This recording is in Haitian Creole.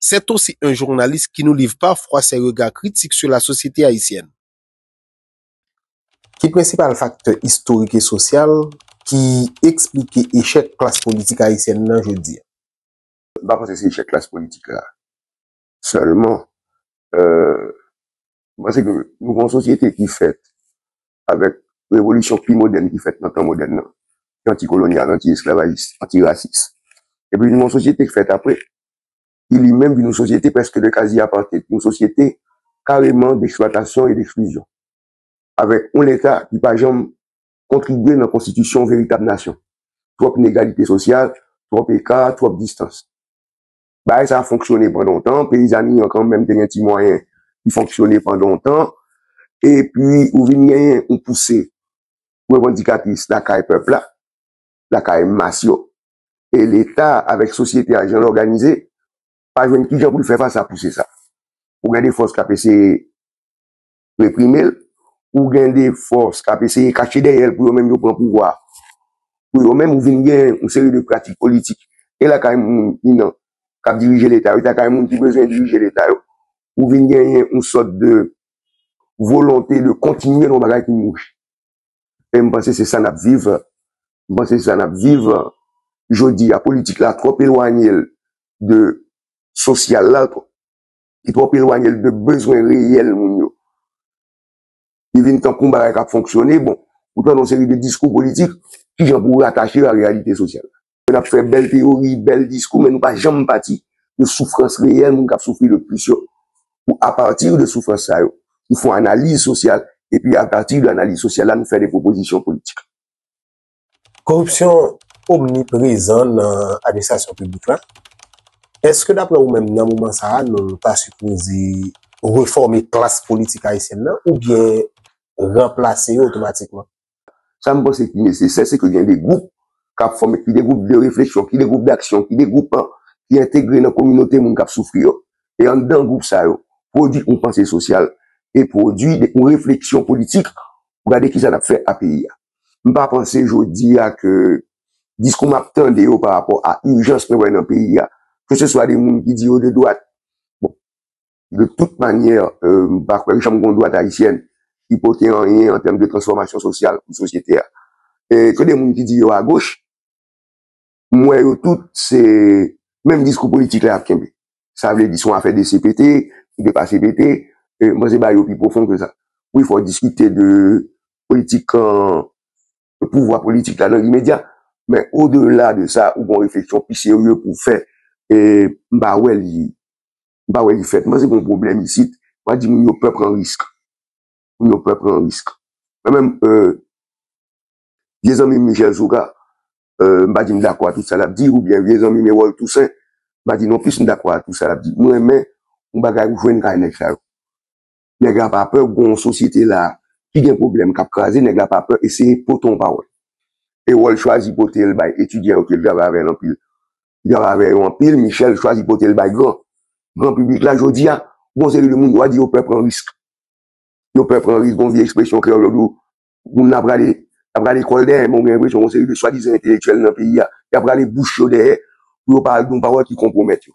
C'est aussi un journaliste qui nous livre parfois ses regards critiques sur la société haïtienne. Ki prensipal faktè istorik e sosyal ki esplike echèk klas politik ayisyèn nan jodi a? M pa panse se echèk klas politik la sèlman. M panse ke nou gen yon sosyete ki fèt avèk revolisyon pi modèn ki fèt nan tan modèn nan, ki anti-kolonyal, anti-esklavajis, anti-rasis. Epi nou gen yon sosyete ki fèt apre, ki li menm vin yon sosyete prèske de kazi apartheid, yon sosyete kareman d'eksplwatasyon e d'eksklizyon, avèk yon leta ki pa janm kontribye nan konstitisyon yon veritab nasyon. Twòp inegalite sosyal, twòp eka, twòp distans. Bagay sa a fonksyone pandan yon tan, peyizani an kanmenm te gen ti mwayen ki fonksyone pandan yon tan, epi ou vin genyen yon pouse revandikatis lakay pèp la, lakay mas yo. e leta avèk sosyete a jan l òganize pa jwenn kijan pou l fè fas a pouse sa. Ou gen de fòs k ap eseye reprime l, ou gen de fòs k ap eseye kache dèyè l pou yo menm yo pran pouvwa a pou yo menm. Ou vin gen yon seri de pratik politik e lakay moun ki nan k ap dirije leta yo e lakay moun ki bezwen dirije leta yo. Ou vin genyen yon sòt de volonte de kontinye yon bagay ki mouri. E m panse se sa n ap viv. M panse se sa n ap viv jodi a. Politik la twòp elwanye l de sosyal la. Li twòp elwanye l de bezwen reyèl moun yo. Li vin tankou yon bagay k ap fonksyone. Bon, ou tande yon seri de diskou politik, ki jan pou w ratache yo a reyalite sosyal la? Nou ap fè bèl teyori, bèl diskou men nou pa janm pati de soufrans reyèl moun k ap soufri le plis yo pou apati de soufrans sa yo nou fon analiz sosyal epi apati de analiz sosyal la nou fè de pwopozisyon politik. Koripsyon omniprezan nan administrasyon piblik la, èske daprè ou menm nan moman sa a nou ta sipoze refòme klas politik ayisyèn nan oubyen ranplase yo otomatikman? Sa m panse ki nesesè se ke gen de gwoup k ap fòme, ki de gwoup de refleksyon, ki de gwoup daksyon, ki de gwoup ki entegre nan kominote moun k ap soufri yo. E anndan gwoup sa yo, pwodui yon panse sosyal e pwodui yon refleksyon politik pou gade kisa n ap fè a peyi a. M pa panse jodi a ke diskou m ap tande yo parapò a ijans mwen wè nan peyi a, keseswa de moun ki di yo de dwat, bon, De tout manyè, m pa kwè janm gon dwat ayisyèn ki pote anyen an tèm de transfòmasyon sosyal pou sosyete a. E ke de moun ki di yo agoch, m wè yo tout se menm diskou politik la y ap kenbe. Sa vle di se yon afè de CPT, ki depase PT, e m panse bagay yo pi pwofon ke sa. Wi fò w diskite de politik pouvwa politik la nan limedya, men odela de sa ou gon refleksyon pi serye pou w fè e m pa wè li M pa wè li fèt. Mwen panse gen yon pwoblèm isit. Mwen di moun yo pè pran risk. Moun yo pè pran risk. Mwen menm, vye zanmi m Michel Soukar, m pa di m dakò a tout sa l ap di, oubyen vye zanmi m Erol Toussaint, m pa di nonplis m dakò a tout sa l ap di. M renmen yon bagay ou jwenn kay nèg sa yo. Nèg la pa pè gon yon sosyete la ki gen pwoblèm k ap kraze, nèg la pa pè eseye pote yon pawòl. Erol chwazi pote l bay etidyan yo ke l travay avè l anpil. Li travay avè yo anpil, Michel chwazi pote l bay gran gran piblik la. Jodi a, gon seri de moun yo a di yo pè pran risk. Yo pè pran risk, gon vye ekspresyon kreyòl yo di w moun nan ap rale ap rale kò l dèyè men ou gen enpresyon gon seri de swadizan entelektyèl nan peyi a y ap rale bouch yo dèyè pou yo pa al di yon pawòl ki konpwomèt yo.